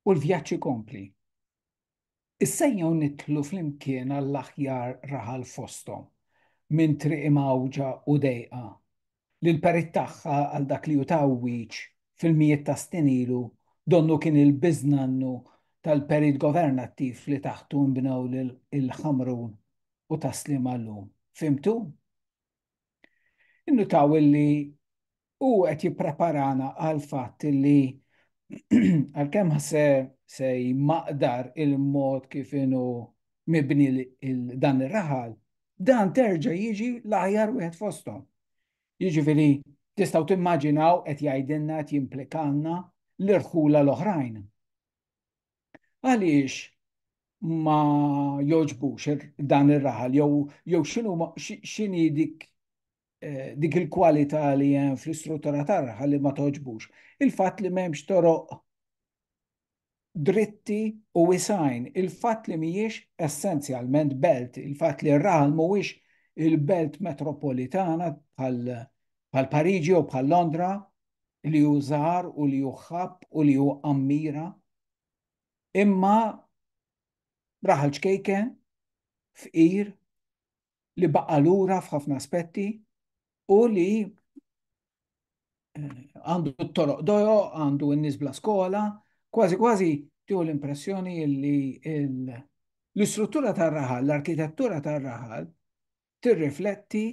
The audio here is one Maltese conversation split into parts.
U l-vjaġġ ikompli. Issejjaw nidħlu flimkien għall-aħjar raħal fosthom, minn triq imgħawġa u dejqa, li l-perit tagħha għal dak li hu ta' wiċċ fil-mijiet ta' snin ilu donnu kien il-biżnannu tal-perit governattiv li taħtu nbnew il-Ħamrun u taslim għal-lum. Fhimtu? Innutaw illi u qed jippreparana għal fatt illi għalkemm se se jmaqdar il-mod kif inhu mibni dan ir-raħal, dan terġa' jiġi l-aħjar wieħed fosthom. Jiġifieri tistgħu timmaġinaw qed jgħidilna qed jimplikanna l-irħula l-oħrajn. Għaliex ma jogħġbux dan ir-raħal jew jew x'inhu x'inhi dik eh, dik il-kwalità li hemm fl-istruttura tar-raħal li ma toġbux. Il-fatt li m'hemmx toroq dritti u wisajn, il-fatt li mhijiex essenzjalment belt, il-fatt li r-raħal mhuwiex il-belt metropolitana bħal Pariġi u bħal Londra, li hu żgħar u li hu ħabb u li hu qammira, imma raħal ċkejke, fqir, li baqa' lura f'ħafna aspetti u li eh, għandu t-toroq dojo, għandu n-nies bla skola, kważi kważi tieħu l-impressjoni li l-istruttura tar-raħal, l-arkitettura tar-raħal tirrifletti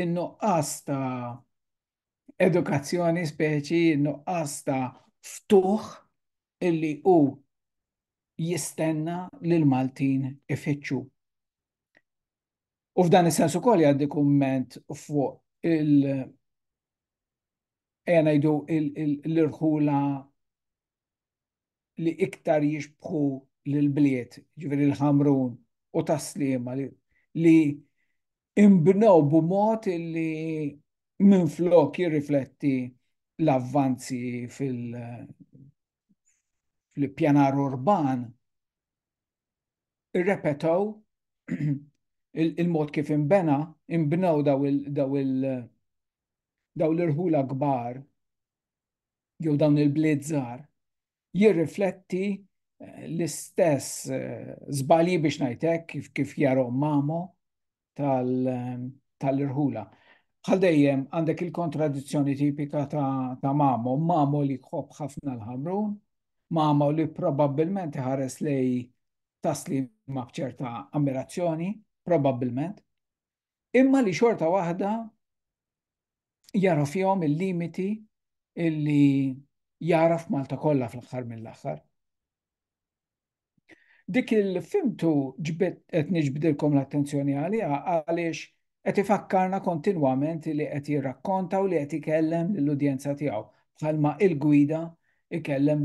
in-nuqqas ta' edukazzjoni speċi nuqqas ta' ftuħ illi hu jistenna li l-Maltin ifittxu. U f'dan is-sens ukoll jgħaddi kumment fuq il- ejja ngħidu l-irħula li iktar jixbħu l-bliet, ġveri l-ħamrun u taslima li imbnew b'mod li minn flok jirrifletti l-avvanzi fil- fil-pjanar urban irrepetaw il-mod kif imbena, imbnew daw il- daw il- daw l-irħula kbar jew dawn il-bliet żgħar jirrifletti eh, l-istess eh, żbalji biex ngħidlek kif kif jarhom mamo eh, tal-irħula. Bħal dejjem għandek il-kontradizzjoni tipika ta', ta mamo, mamo li jħobb ħafna l-ħamrun, mamo li probabbilment iħares lej taslim ma' bċerta ammirazzjoni, probabbilment, imma li xorta waħda jara fihom il-limiti illi jara f'Malta kollha fl-aħħar mill-aħħar. Dik il-fimtu ġbet qed niġbdilkom l-attenzjoni għaliha għaliex qed ifakkarna kontinwament li qed jirrakkonta u li qed ikellem lill-udjenza tiegħu bħalma il-gwida ikellem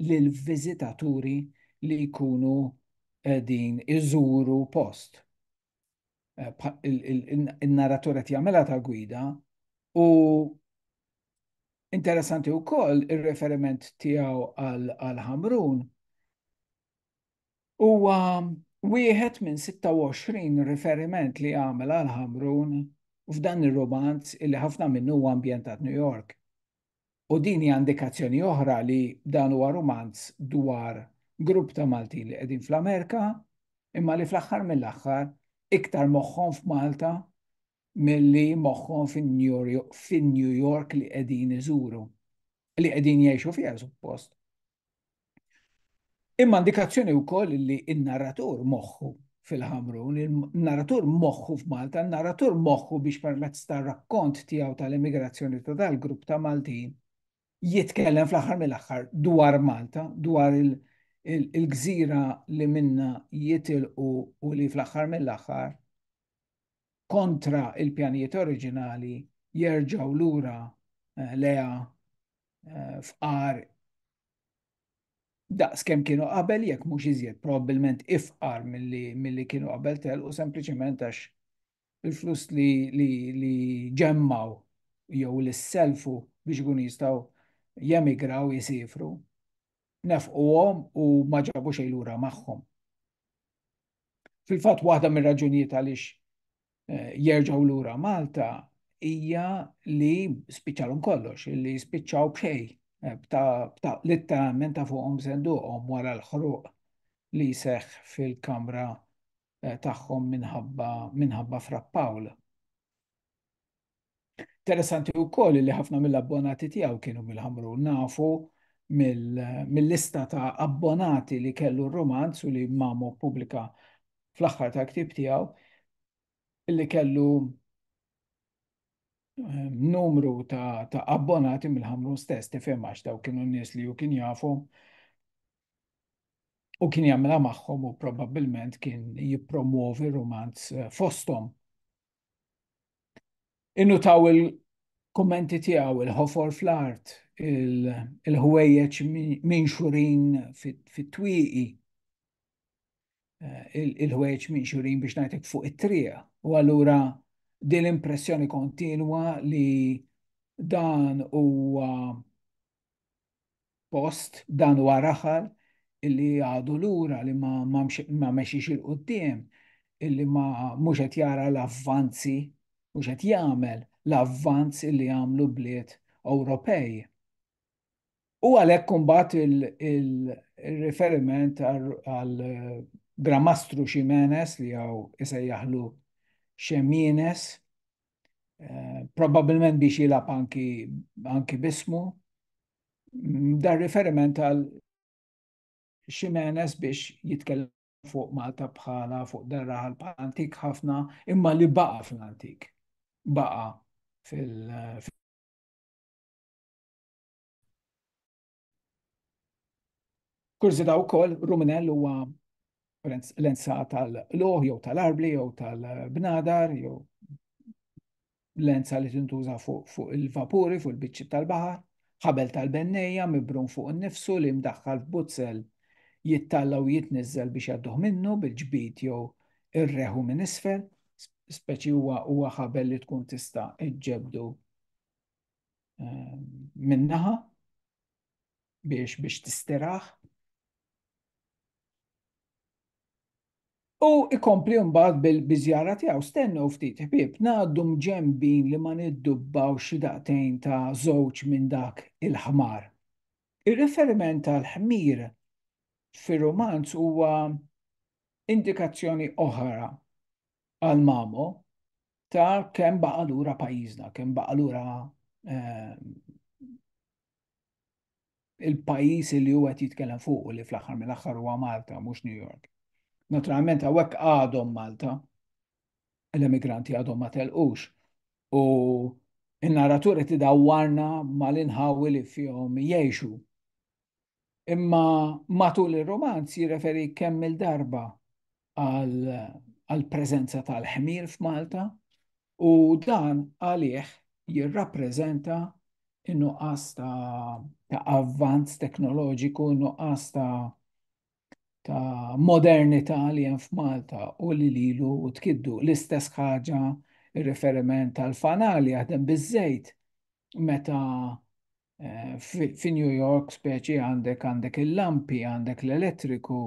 lill-viżitaturi li jkunu din iżuru post. il-narratur qed jagħmilha ta' gwida u interessanti wkoll ir-referiment tiegħu għal Ħamrun huwa wieħed minn 26 riferiment li għamel għal Ħamrun f'dan ir-romanz illi ħafna minnu huwa ambjentat New York. U din hija indikazzjoni oħra li dan huwa rumanz dwar grupp ta' Maltin li qegħdin fl-Amerika, imma li fl-aħħar mill-aħħar iktar moħħhom f'Malta milli moħħhom fin-New York li qegħdin iżuru, li qegħdin jgħixu fiha suppost. Imma indikazzjoni wkoll li n-narratur moħħu fil-Ħamrun, il-narratur moħħu f'Malta, n-narratur moħħu biex permezz ta' rakkont tiegħu tal-emigrazzjoni ta' dal-grupp ta' Maltin jitkellem fl-aħħar mill-aħħar dwar Malta, dwar il-gżira li minna jitilqu u li fl-aħħar mill-aħħar kontra il-pjanijiet oriġinali jerġgħu lura eh, leha eh, fqar daqs kemm kienu qabel jekk mhux iżjed probabbilment ifqar milli kienu qabel tel u sempliċement għax il-flus li, li, li ġemmaw jew li selfu biex ikun jistgħu jemigraw jisifru nefquhom u ma ġabu xejn lura magħhom. Fil-fatt waħda mir-raġunijiet għaliex eh, jerġgħu lura Malta hija li spiċċalhom kollox, li spiċċaw b'xej, eh, litteralment ta' fuqhom senduqhom wara l-ħruq li seħ fil-kamra eh, tagħhom minħabba frappawl. Interessanti wkoll li ħafna mill-abbonati tiegħu kienu mill-ħamru nafu mill-lista ta' abbonati li kellu r-romanz u li mamu pubblika fl-aħħar ta' ktib tiegħu li kellu eh, numru ta', ta abbonati mill-ħamru stess tifhem għax daw kienu nies li ju kien jafu u kien jagħmilha magħhom u probabbilment kien jippromuovi romanz eh, fosthom Innutaw il-kummenti tiegħu, il-ħofor fl-art, il-ħwejjeġ minxurin fit-twieqi, il-ħwejjeġ minxurin biex ngħidlek fuq it-triq. U allura din l-impressjoni kontinwa li dan huwa post dan huwa raħal illi għadu lura li ma, ma, ma mexiex il-qudiem, illi ma mhux qed jara l-avvanzi, mhux qed jagħmel l-avvanz illi għamlu bliet Ewropej. U għalhekk kumbat il-riferiment għal Gramastru Ximenes li għaw isejjaħlu Xemines, eh, probabilment biex jilab anki, anki bismu, mm, dar riferiment għal Ximenes biex jitkellem fuq Malta bħala fuq darra għal antik ħafna imma li baqa fl-antik. Baqa fil- Kurżità wkoll, ruminell huwa lenza tal-qluħ jew tal-arbli jew tal-bnadar jew lenza li tintuża fuq il-vapuri, fuq il-biċċi tal-baħar, ħabel tal-bennejja mibrun fuq innifsu li mdaħħal f'buzzel jittalla u jitniżżel biex jadduh minnu bil-ġbid jew irreħu minn isfel, speċi huwa ħabel li tkun tista' ġġebbdu ehm, minnaħa biex biex tistiraħ. U ikompli mbagħad bil-biżjara tiegħu stennu ftit ħbieb ngħaddu mġembin li ma niddubbaw xi daqtejn ta' żewġ minn dak il-ħmar. Ir-riferiment tal-ħmir fir-romanz huwa indikazzjoni oħra għal mamo ta' kemm baqa' lura pajjiżna, kemm baqa' lura ehm, il-pajjiż li huwa qed jitkellem fuq li fl-aħħar mill-aħħar huwa Malta mhux New York. Naturalment hawnhekk għadhom Malta, l-emigranti għadhom ma telqux u in-narratur qed idawwarna mal-inħawi li fihom jgħixu. Imma matul ir-romanz jirreferi kemm il-darba għall-preżenza tal-ħmir f'Malta u dan għalih jirrappreżenta in-nuqqas ta' avvanz teknoloġiku, in-nuqqas ta' modernità li hemm f'Malta u li lilu tkiddu. L-istess ħaġa ir-riferiment tal-fanal jaħdem biż-żejt meta Eh, fi New York speċi għandek għandek il-lampi, għandek l-elettriku,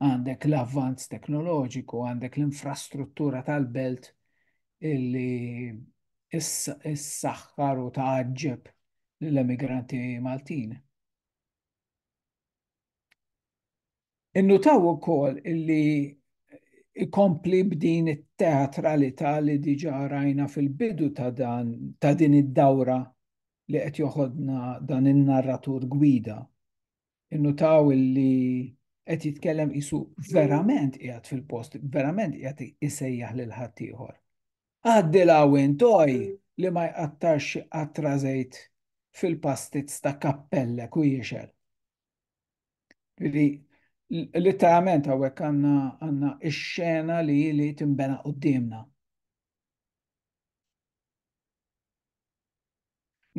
għandek l-avvanz teknoloġiku, għandek l-infrastruttura tal-belt illi s-saxħar u taġġeb l-emigranti Maltin. Innutaw ukoll li ikompli b'din it-teatralità li diġà rajna fil-bidu ta' dan ta' din id-dawra li qed joħodna dan in-narratur gwida. Innutaw li qed jitkellem qisu verament qiegħed fil-post, verament qiegħed isejjaħ lil ħaddieħor. Għaddilha u intoj li ma jqattarx xi qatra żejt fil-pastizz ta' kappellek u jixgħel. Li literalment hawnhekk għandna għandna x-xena li li timbena qudiemna.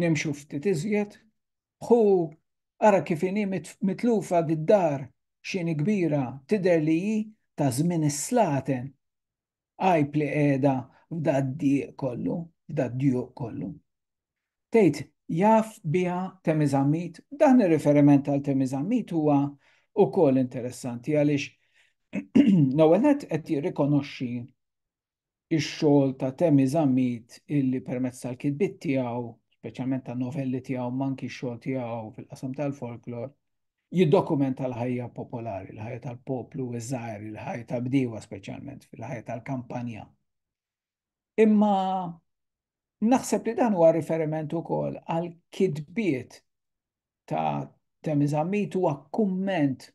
Nimxu ftit iżjed, hu ara kif inhi mitlufa d-dar xini kbira tidher li hi ta' żmien is-slaten. Għajb li qiegħda f'dad-dieq kollu, f'dad-djuq kollu. Tgħid jaf biha temiżammit, dan ir-riferiment għal temiżammit huwa wkoll interessanti għaliex l-ewwel nett qed jirrikonoxxi ix-xogħol ta' temiżammit illi permezz tal-kitbiet tiegħu, speċjalment ta' novelli tiegħu, manki x-xogħol tiegħu fil-qasam tal-folklor, Jiddokumenta l-ħajja popolari, l-ħajja tal-poplu iż-żgħir, il-ħajja tal-bdiewa speċjalment, fil-ħajja tal-kampanja. Imma naħseb li dan huwa riferiment ukoll għal kitbiet ta' Temizamit huwa kumment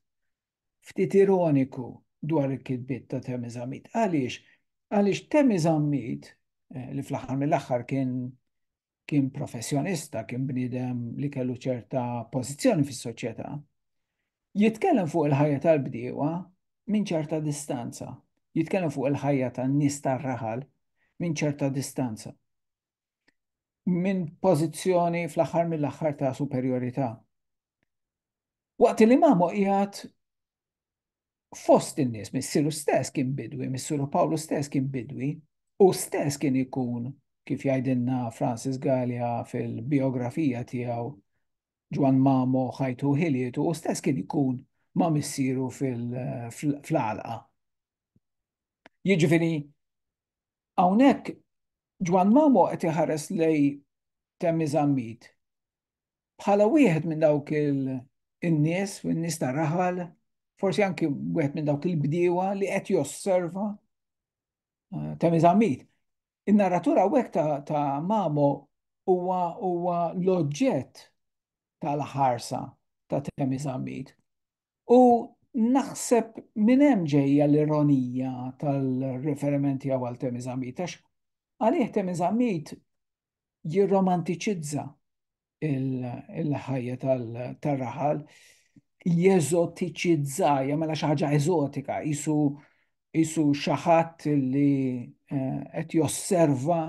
ftit ironiku dwar il-kitbiet ta' Temizamit. Għaliex? Għaliex Temizamit eh, li fl-aħħar mill-aħħar kien kien professjonista, kien bniedem li kellu ċerta pożizzjoni fis-soċjetà, jitkellem fuq il-ħajja tal-bdiewa minn ċerta distanza, jitkellem fuq il-ħajja tan-nies tar-raħal minn ċerta distanza. Minn pożizzjoni fl-aħħar mill-aħħar ta' superjorità. Waqt li mamu qiegħed fost in-nies, missieru stess kien bidwi, missieru Pawlu stess kien bidwi, u stess kien ikun, kif jgħidilna Francis Gallia fil-biografija tiegħu, Ġwan Mamo ħajtu ħilietu, u stess kien ikun ma' missieru fl-għalqa. Jiġifieri, hawnhekk Ġwan Mamo qed iħares lej Temmi Zammit bħala wieħed minn dawk il-nies, minn nies ta' raħal, forsi anki wieħed minn dawk il-bdiewa li qed josserva eh, ta' miżammit. In-narratura għek ta', ta Mamo huwa huwa l-oġġett tal-ħarsa ta' temi zammit. U naħseb minn hemm ġejja l-ironija tal-riferimenti għal temi zammit, għax għalih temi zammit jirromantiċizza il-ħajja tal-raħal, jeżotiċizza, jagħmilha xi ħaġa eżotika, isu isu xi ħadd li eh, qed josserva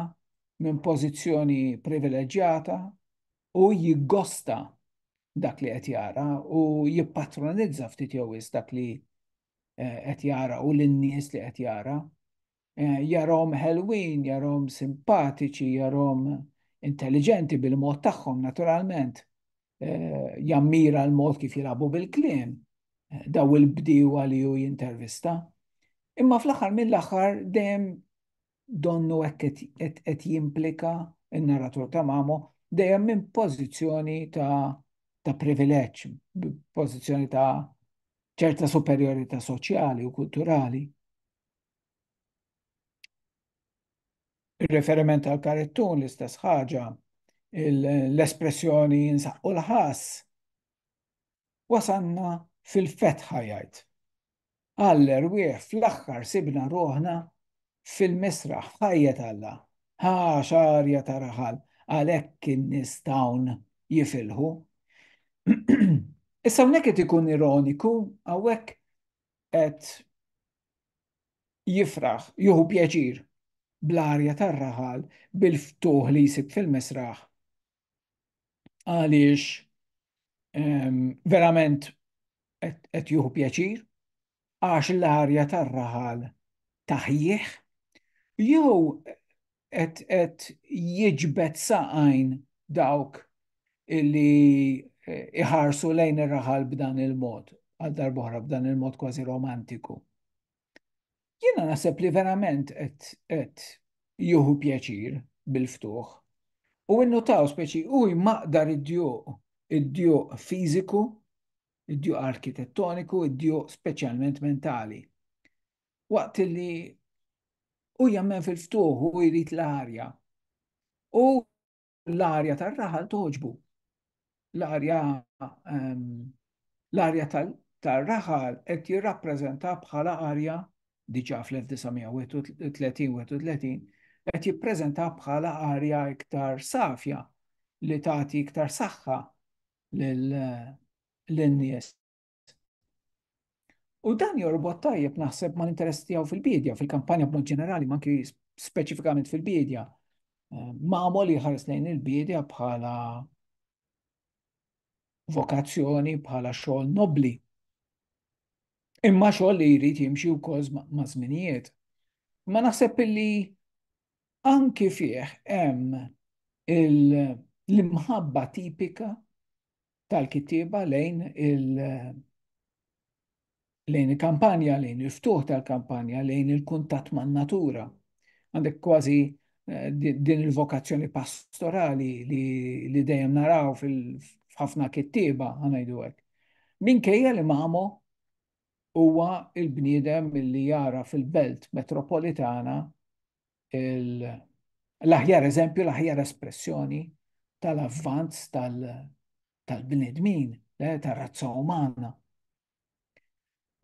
minn pożizzjoni privileġġjata u jiggosta dak li qed jara u jippatronizza ftit jew dak li eh, qed jara u lin-nies li qed jara. Jarahom ħelwin, jarahom simpatiċi, jarahom intelliġenti bil-mod tagħhom naturalment. Jammira l-mod kif jilagħbu bil-kliem daw il-bdiewa li hu jintervista. Imma fl-aħħar mill-aħħar dejjem donnu hekk qed jimplika n-narratur ta' Mamo, dejjem minn pożizzjoni ta' privileġġ, pożizzjoni ta' ċerta superjorità soċjali u kulturali. Ir-riferiment għal karittun l-istess ħaġa, l-espressjoni jinsaqqu l-ħass. Wasanna fil-fetħa jgħid. Għaller wieħ fl-aħħar sibna ruħna fil-misraħ ħajjet Alla. Ħa xarja ta' raħal għalhekk in-nies tawn jifilħu. Issa hawnhekk qed ikun ironiku hawnhekk qed jifraħ, juhu pjaċir, bl-arja tar-raħal, bil-ftuħ li jsib fil-misraħ. Għaliex ehm, verament qed juhu pjaċir, għax l-arja tar-raħal taħjih, jew qed qed jiġbed saqajn dawk li eh, iħarsu lejn ir-raħal b'dan il-mod, għal darbohra b'dan il-mod kważi romantiku. Jiena naħseb li verament qed juhu pjaċir bil-ftuħ u innutaw speċi u jmaqdar id-djuq, id-djuq fiżiku, id-djuq arkitettoniku, id-djuq speċjalment mentali. waqt li u jammen fil-ftuħ u jrid l-arja. U l-arja tar-raħal toġbu. L-arja ehm, l-arja tar-raħal qed jirrappreżenta bħala arja diġà fl-1931 qed jippreżenta bħala arja iktar safja li tagħti iktar saħħa lin-nies U dan jorbot tajjeb naħseb ma l-interess tiegħu fil-bidja, fil-kampanja b'mod ġenerali, ma anki speċifikament fil-bidja. Eh, Mamo li ħares lejn il-bidja bħala vokazzjoni, bħala xogħol nobli. Imma xogħol li jrid jimxi wkoll ma' żminijiet. Ma naħseb illi anki fih hemm l-imħabba tipika tal-kittieba lejn il- lejn il-kampanja, lejn il-ftuħ tal-kampanja, lejn il-kuntatt man-natura. Għandek kważi eh, din il-vokazzjoni pastorali li, li dejjem naraw fil-ħafna kittieba ħanajdu hekk. Minkejja li mamu huwa il-bniedem li jara fil-belt metropolitana l-aħjar eżempju, l-aħjar espressjoni tal-avvanz tal-bnedmin, eh, tal-razza umana.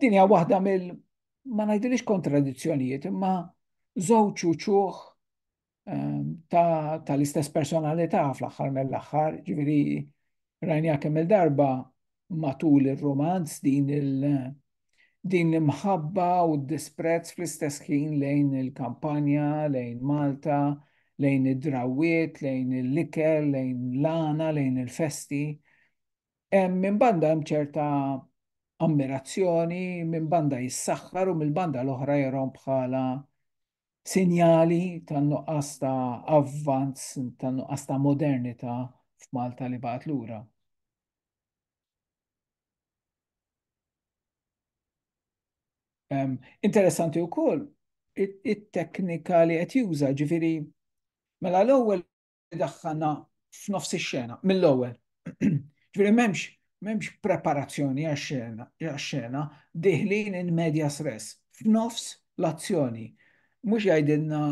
Din hija waħda mill ma ngħidilix kontradizzjonijiet, imma żewġ uċuħ ehm, tal-istess personalità fl-aħħar mill-aħħar, ġifieri rajniha kemm il-darba matul ir-romanz din il- din l-imħabba u d-disprezz fl-istess ħin lejn il-kampanja, lejn Malta, lejn id-drawiet, lejn il-likel, lejn l-għana, lejn il-festi. Minn banda hemm ċerta ammirazzjoni, minn banda jissaħħar u mill-banda l-oħra jerhom bħala sinjali ta' nuqqas ta' avvanz, ta' nuqqas ta' modernità f'Malta li baqgħet lura. Um, interessanti wkoll it-teknika li qed juża, ġifieri mela l-ewwel idaħħalna f'nofs ix-xena mill-ewwel. Ġifieri m'hemmx m'hemmx preparazzjoni għax-xena għax-xena, dieħlin in medias res, f'nofs l-azzjoni. Mhux jgħidilna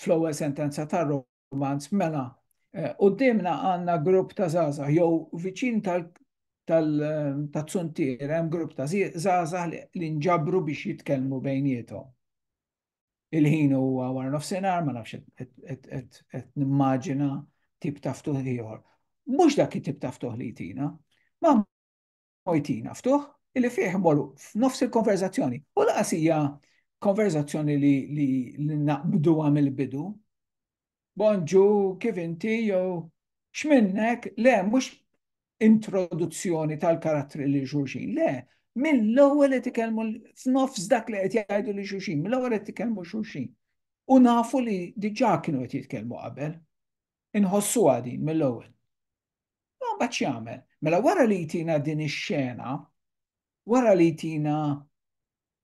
fl-ewwel sentenza tar-romanz, mela, quddiemna għandna grupp ta' żgħażagħ jew viċin tal tazzuntier hemm grupp ta' żgħażagħ li nġabru biex jitkellmu bejniethom. il-ħin huwa wara nofsinhar, ma nafx qed nimmaġina tip ta' ftuħ ieħor. Mhux dak it-tip ta' ftuħ li jtina. Ma jtina ftuħ illi fih immorru f'nofs il-konverzazzjoni. U laqas hija konverzazzjoni li naqbdu għam il-bidu. Bonġu, kif inti, jew x'minnek, le, mhux introduzzjoni tal-karattri li xulxin, le, mill-ewwel qed ikellmu f'nofs dak li qed jgħidu li xulxin, mill-ewwel qed ikellmu xulxin. U nafu li diġà kienu qed jitkellmu qabel. Inħossu għadin mill-ewwel. Ma mbagħad jagħmel. Mela wara li jtina din ix-xena, wara li jtina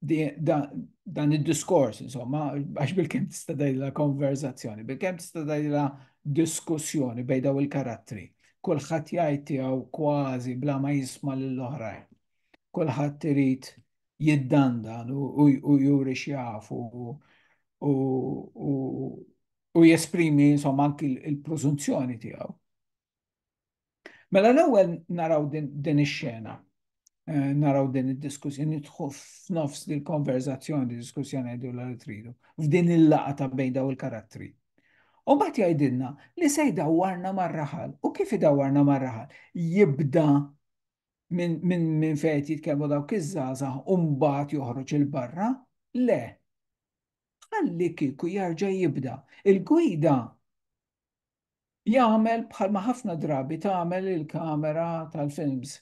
dan id-diskors, insomma, għax bil-kem tista' dajla konverzazzjoni, bil-kem tista' dajla diskussjoni bej daw il-karattri. Kulħadd jgħid tiegħu kważi bla ma jisma' lill-oħrajn. Kulħadd irid jiddandan u juri xjafu u jesprimi insomma anki il-preżunzjoni tiegħu. Mela l-ewwel naraw din ix-xena, eh, naraw din id-diskussjoni, nidħu f'nofs din konverzazzjoni, diskussjoni għidu l tridu, f'din il-laqa ta' bejn daw il-karattri. U bat jgħidilna li se jdawarna mar-raħal. U kif idawarna mar-raħal? Jibda minn min, min fejt jitkellmu dawk iż-żgħażagħ u mbagħad joħroġ il-barra? Le. Ħalli kieku jarġa' jibda. Il-gwida Jagħmel bħalma ħafna drabi tagħmel il-kamera tal-films,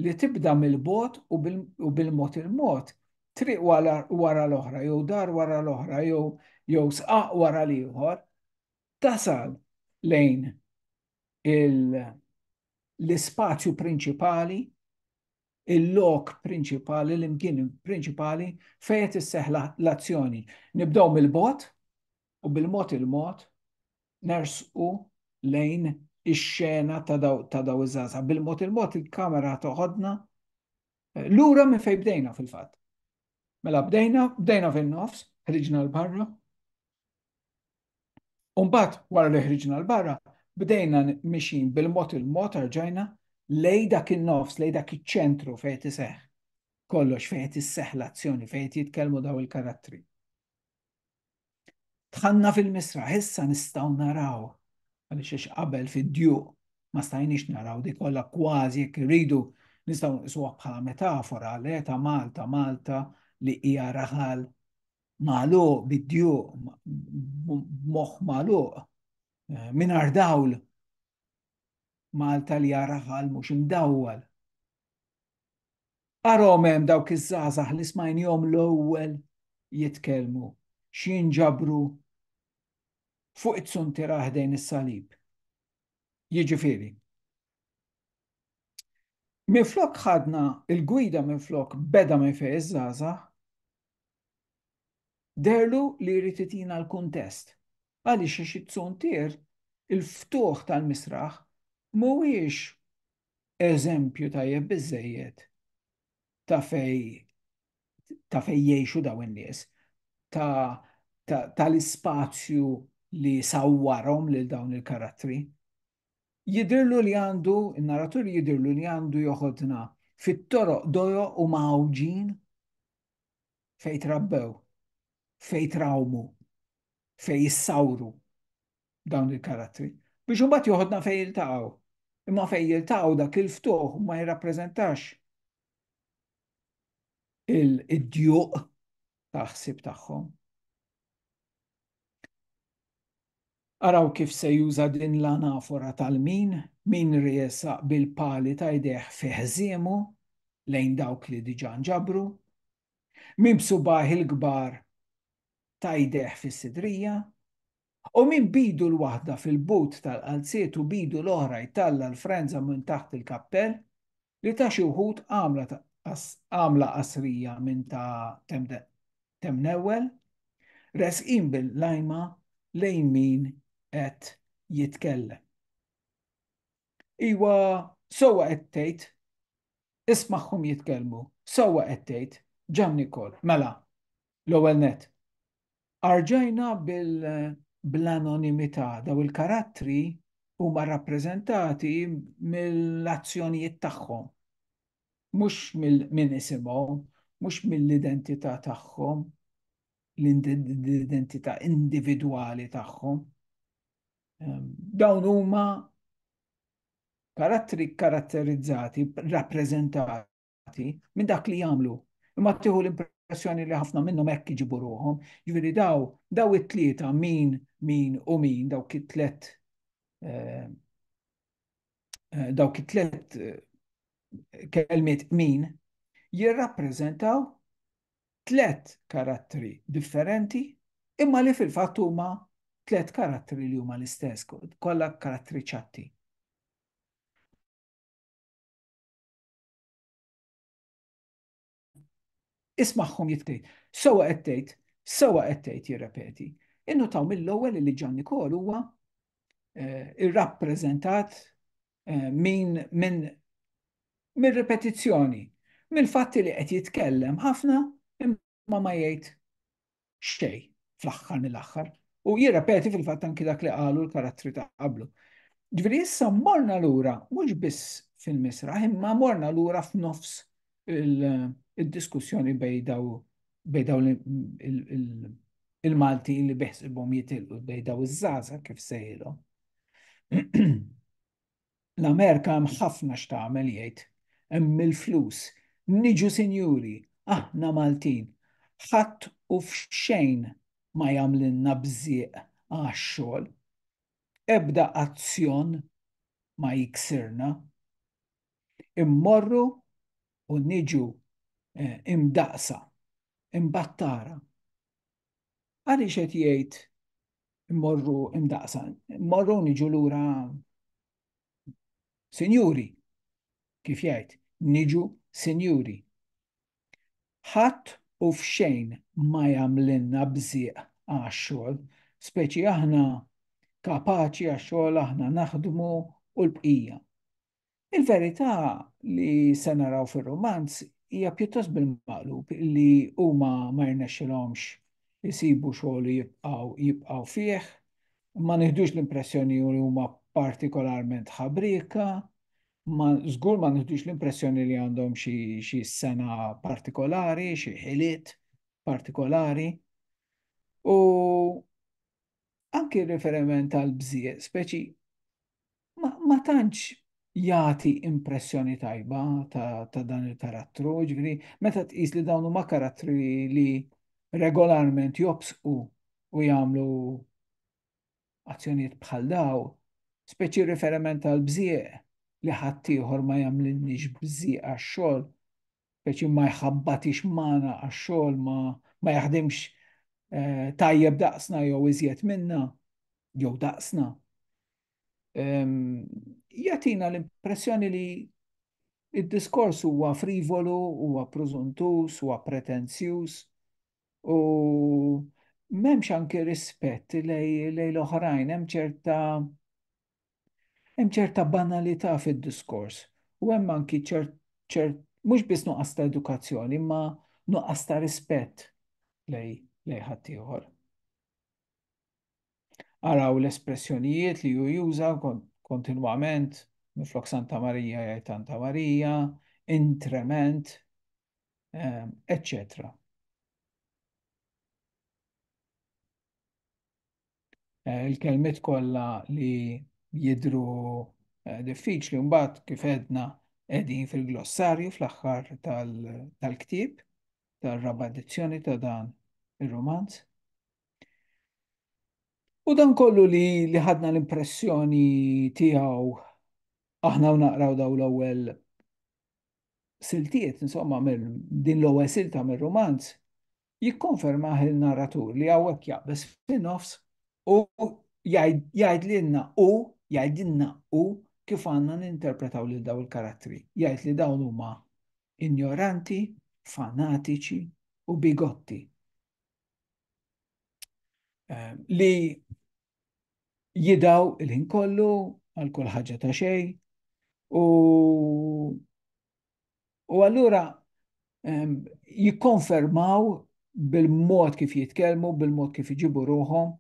li tibda mill-bogħod u bil-mod il-mod, triq wara l-oħra jew dar wara l-oħra jew sqaq wara l-ieħor, tasal lejn l-ispazju prinċipali, il-lok prinċipali, l-imkien prinċipali fejn qed isseħħ l-azzjoni. Nibdew mill-bogħod, u bil-mod il-mod nersqu lejn ix-xena ta' daw iż-żgħażagħ. Bil-mod il-mod il-kamera toħodna eh, lura minn fejn bdejna fil-fatt. Mela bdejna, bdejna fin-nofs, ħriġna l-barra. Umbat, wara li ħriġna l-barra, bdejna mixin bil-mod il-mod arġajna lej dak il-nofs, lej dak il-ċentru fejn tiseħ. Kollox fejn tiseħ l-azzjoni, fejn jitkellmu daw il-karattri. Tħanna fil-misraħ, issa nistgħu naraw għaliex għax qabel fid-djuq ma stajniex naraw di kollha kważi jekk irridu nistgħu nqisuha bħala metafora le ta' Malta, Malta li hija raħal malu bid-dju moħ malu eh, minar dawl Malta li raħal mhux imdawwal. Arahom hemm dawk iż-żgħażagħ li smajnihom l-ewwel jitkellmu, x'jinġabru fuq it-tsuntiera ħdejn is-salib. Jiġifieri, minflok ħadna il-gwida minflok beda minn fejn iż-żgħażagħ, derlu li jrid itina l-kuntest. Għaliex għax it-tsuntier, il-ftuħ tal-misraħ, mhuwiex eżempju tajjeb biżejjed ta' fej ta' fej jgħixu daw in-nies, tal-ispazju li sawwarhom lil dawn il-karattri. Jidirlu li għandu, il-narratur jidirlu li għandu joħodna fit-toroq dojo u mawġin fej trabbew, fej trawmu, fej jissawru, dawn il-karattri, biex imbagħad joħodna fejn jiltaqgħu. Imma fejn jiltaqgħu dak il-ftuħ ma jirrappreżentax il-djuq ta' ħsib tagħhom. Araw kif se juża din l-anafora tal-min, min riesaq bil-pali ta' jdejh fi ħżiemu lejn dawk li diġà nġabru, Min b'subgħajh il-kbar ta' jdejh fis-sidrija, u min b'idu l-waħda fil-but tal-qalziet u b'idu l-oħra jtalla' l-frenża minn taħt il-kappell, li ta' xi wħud għamla qasrija minn ta' Temnewwel, resqin bil-lajma lejn min qed jitkellem. Iwa, sewwa qed tgħid, Ismagħhom jitkellmu. Sewwa qed tgħid, Ġan Nikol. Mela, l-ewwel nett, arġajna bil-anonimità daw il-karattri huma rappreżentati mill-azzjonijiet tagħhom, mhux mill-min isimhom, mhux mill-identità tagħhom, l-identità individwali tagħhom. Dawn huma karattri kkaratterizzati, rappreżentati minn dak li jagħmlu. Imma tieħu l-impressjoni li ħafna minnhom hekk iġibu ruħhom, jiġifieri daw daw it-tlieta min min u min dawk it-tlet eh, eh, dawk it-tlet eh, kelmiet min jirrappreżentaw tliet karattri differenti imma li fil-fatt huma tliet karattri li huma l-istess, kollha karattri ċatti. Ismagħhom jitkejt. Sewa qed tgħid, sewa qed tgħid jirrepeti. Innutaw mill-ewwel li Ġan Nikol huwa eh, irrappreżentat eh, minn min, min ripetizzjoni, mill-fatti li qed jitkellem ħafna imma ma jgħid xej fl-aħħar mill-aħħar u jirrepeti fil-fatt anki dak li qalu l-karattri ta' qablu. Ġveri issa morna lura mhux biss fil-misra, imma morna lura f'nofs il-diskussjoni bej daw il-Malti li beħsibhom jitilqu bej daw iż-żaza kif sejlhom. L-Amerika hemm ħafna x'tagħmel jgħid. Hemm il-flus. Niġu sinjuri, aħna Maltin. Ħadd u f'xejn ma jagħmlilna bżieq għax-xogħol. Ebda azzjon ma jiksirna. Immorru u niġu imdaqqsa. Imbagħad tara. Għaliex qed jgħid immorru imdaqsa, immorru niġu lura sinjuri, kif jgħid, niġu sinjuri. Ħadd u f'xejn ma jagħmlilna bżieq għax-xogħol, speċi aħna kapaċi għax-xogħol aħna naħdmu u l-bqija. Il-verità li se naraw fir-rumanz hija pjuttost bil-maqlub li huma ma jirnexxilhomx isibu xogħol u jibqgħu jibqgħu fih, ma nieħdux l-impressjoni li huma partikolarment ħabrieka, ma żgur ma nieħdux l-impressjoni li għandhom xi xi sena partikolari, xi ħiliet partikolari. U anki riferiment għal bżieq, speċi ma tantx jagħti impressjoni tajba ta' dan il-karattru, ġifieri meta tqis li dawn huma karattri li regolarment jobsqu u jagħmlu azzjonijiet bħal daw, speċi riferiment għal bżieq li ħaddieħor ma jagħmlilniex bżieq għax-xogħol, speċi ma jħabbatix magħna għax-xogħol ma, ma jaħdimx eh, tajjeb daqsna jew iżjed minna jew daqsna. Ehm, jatina l-impressjoni li id-diskors huwa frivolu, huwa pruzuntus, huwa pretenzjuż u m'hemmx anke rispett lej l-oħrajn, hemm ċerta Hemm ċerta banalità fid-diskors u hemm anki ċert ċert mhux biss nuqqas ta' edukazzjoni imma nuqqas ta' rispett lej lej ħaddieħor. Araw l-espressjonijiet li hu juża kontinwament minflok Santa Marija jgħid Santa Marija, intrement, eccetera. Ehm, eh, il-kelmiet kollha li jidru eh, diffiċli mbagħad kif edna qegħdin fil-glossarju fl-aħħar tal-ktieb tar-raba' edizzjoni ta' dan ir-romanz. U dan kollu li li ħadna l-impressjoni tiegħu aħna u naqraw daw l-ewwel siltiet, insomma, din l-ewwel silta mir-romanz, jikkonfermah il-narratur li hawnhekk jaqbeż fin-nofs u jgħidlilna u jgħidilna u kif għandna ninterpretaw lil daw il-karattri. Jgħid li dawn huma injoranti, fanatiċi u bigotti. Eh, li jidaw il-ħin kollu għal kull ħaġa ta' xej u U allura ehm, jikkonfermaw bil-mod kif jitkellmu, bil-mod kif iġibu ruħom,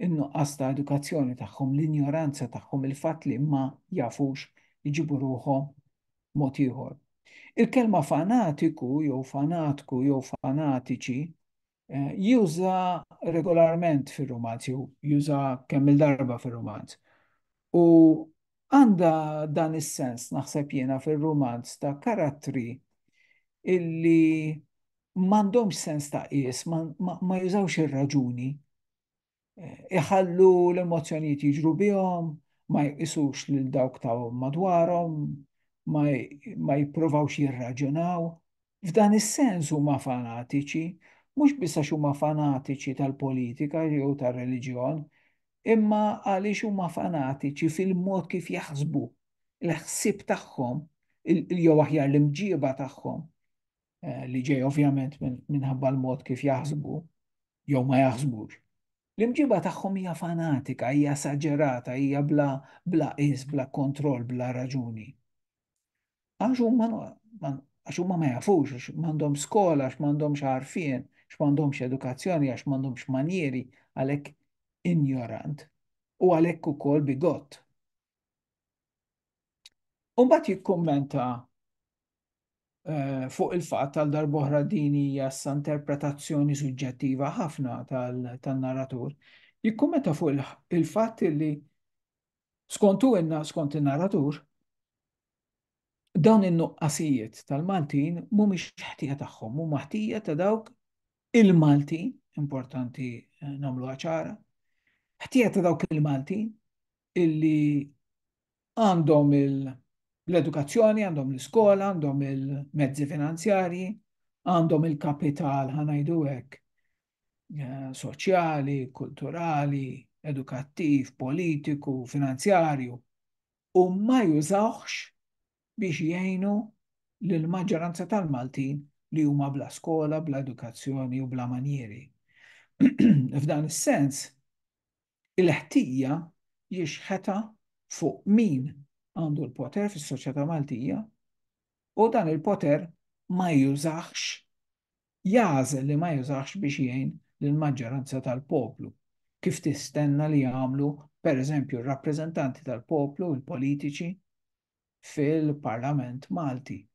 in-nuqqas ta' edukazzjoni tagħhom, l-injoranza tagħhom, il-fatt li ma jafux iġibu ruħom mod ieħor. Il-kelma fanatiku jew fanatku jew fanatiċi juża regolarment fir-rumanz, jew juża kemm il-darba fir-rumanz. U għandha dan is-sens naħseb jiena fir-rumanz ta' karattri illi m'għandhomx sens ta' qies, ma jużawx ir-raġuni. iħallu l-emozzjonijiet jiġru bihom, ma jqisux lil dawk ta' madwarhom, ma jipprovawx jirraġunaw. F'dan is-sens huma fanatiċi, mhux biss għax huma fanatiċi tal-politika jew tar-reliġjon, imma għaliex huma fanatiċi fil-mod kif jaħsbu, il-ħsieb tagħhom, jew aħjar l-imġieba tagħhom, eh, li ġej ovvjament minħabba l-mod kif jaħsbu jew ma jaħsbux. L-imġiba tagħhom hija fanatika, hija saġerata, hija bla bla is, bla kontroll, bla raġuni. Għax huma għax huma ma jafux, għax m'għandhom skola, għax m'għandhomx għarfien, għax m'għandhomx edukazzjoni, għax m'għandhomx manjieri, għalhekk injorant u għalhekk ukoll bigott. Umbat jikkummenta eh, fuq il-fatt tal darbohra din hija sa interpretazzjoni suġġettiva ħafna tal-narratur. Jikkummenta fuq il-fatt li skontu inna skont in-narratur dawn in-nuqqasijiet tal-Maltin mhumiex ħtija tagħhom, huma ħtija ta' dawk il-Malti, importanti nagħmluha ċara, ħtija ta' dawk il-Malti illi għandhom l-edukazzjoni, għandhom l-iskola, għandhom il-mezzi finanzjarji, għandhom il-kapital ħanajdu hekk eh, soċjali, kulturali, edukattiv, politiku, finanzjarju u ma jużawx biex jgħinu lill-maġġoranza tal-Maltin li huma bla skola, bla edukazzjoni u bla manjieri. F'dan is-sens, il-ħtija jixħetha fuq min għandu l-poter fis-soċjetà Maltija u dan il-poter ma jużax jażel li ma jużax biex jgħin lill-maġġoranza tal-poplu kif tistenna li jagħmlu pereżempju r-rappreżentanti tal-poplu, il-politiċi, fil-Parlament Malti,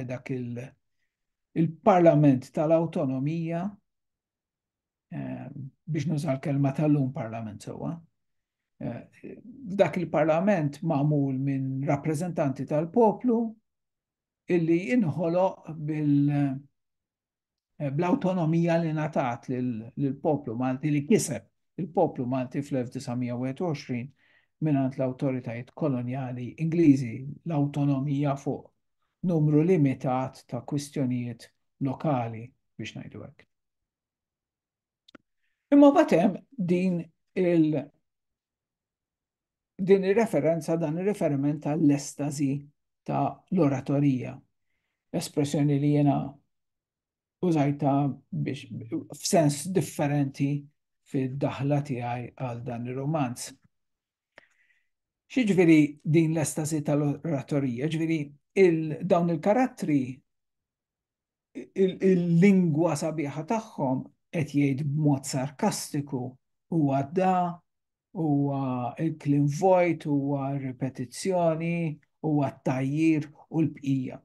dak il-Parlament tal-Awtonomija, ehm, biex nuża l-kelma tal-lum Parlament sewwa, eh, dak il-Parlament magħmul minn rappreżentanti tal-poplu illi inħoloq bil- eh, bl-awtonomija li natat lill-poplu Malti li kiseb il-poplu Malti fl-1921 minant l-autoritajiet koloniali Ingliżi l-autonomija fuq numru limitat ta' kwistjonijiet lokali biex ngħidu hekk. Imma mbagħad hemm din il din ir-referenza dan ir-riferiment għall-estażi ta' l-oratorija. Espressjoni li jiena użajta biex f'sens differenti fid-daħla tiegħi għal dan ir-romanz. Xiġveri din l-estasi tal-oratorija, ġveri il dawn il-karattri il-lingwa sabiħa tagħhom qed jgħid b'mod sarkastiku huwa da, huwa il-klim vojt, huwa ripetizzjoni, huwa t-tajjir u l-bqija.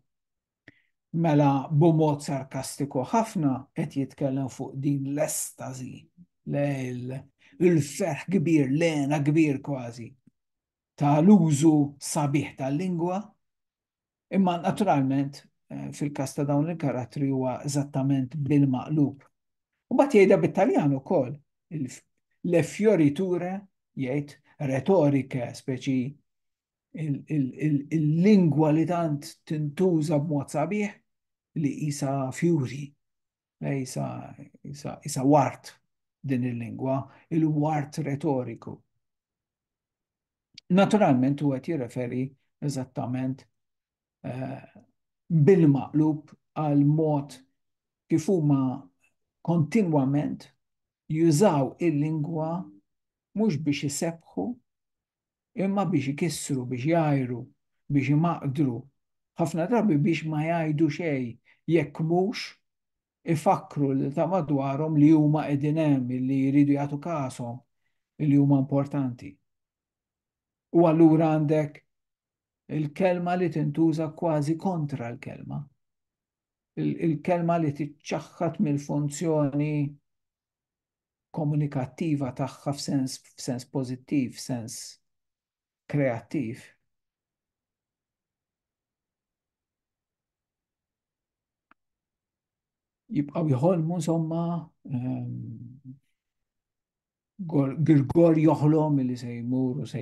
Mela b'mod sarkastiku ħafna qed jitkellem fuq din l-estażi, l-ferħ kbir, l-għena kbir kważi tal-użu sabiħ tal-lingwa Imma naturalment fil-każ ta' dawn il-karattri huwa eżattament bil-maqlub. U mbagħad jgħidha bit-Taljan ukoll, le fioriture jgħid retorike, speċi il-lingwa li tant tintuża b'mod sabiħ li jisa fjuri. Isa, isa, isa wart din il-lingwa, il-wart retoriku. Naturalment u għet jirreferi eżattament eh, bil-maqlub għal mod kif huma kontinwament jużaw il-lingwa mhux biex isebħu imma biex ikissru, biex jgħajru, biex imaqdru, ħafna drabi biex ma jgħidu xejn jekk mhux ifakkru lil ta' madwarhom li huma qegħdin hemm, li jridu jagħtu kashom, li huma importanti. U allura għandek il-kelma li tintuża kważi kontra l-kelma. Il-kelma li tiċċaħħat mill-funzjoni komunikattiva tagħha f'sens f'sens pożittiv, f'sens kreattiv. Jibqgħu jħolmu insomma ehm, Grigor joħlom li se jmur u se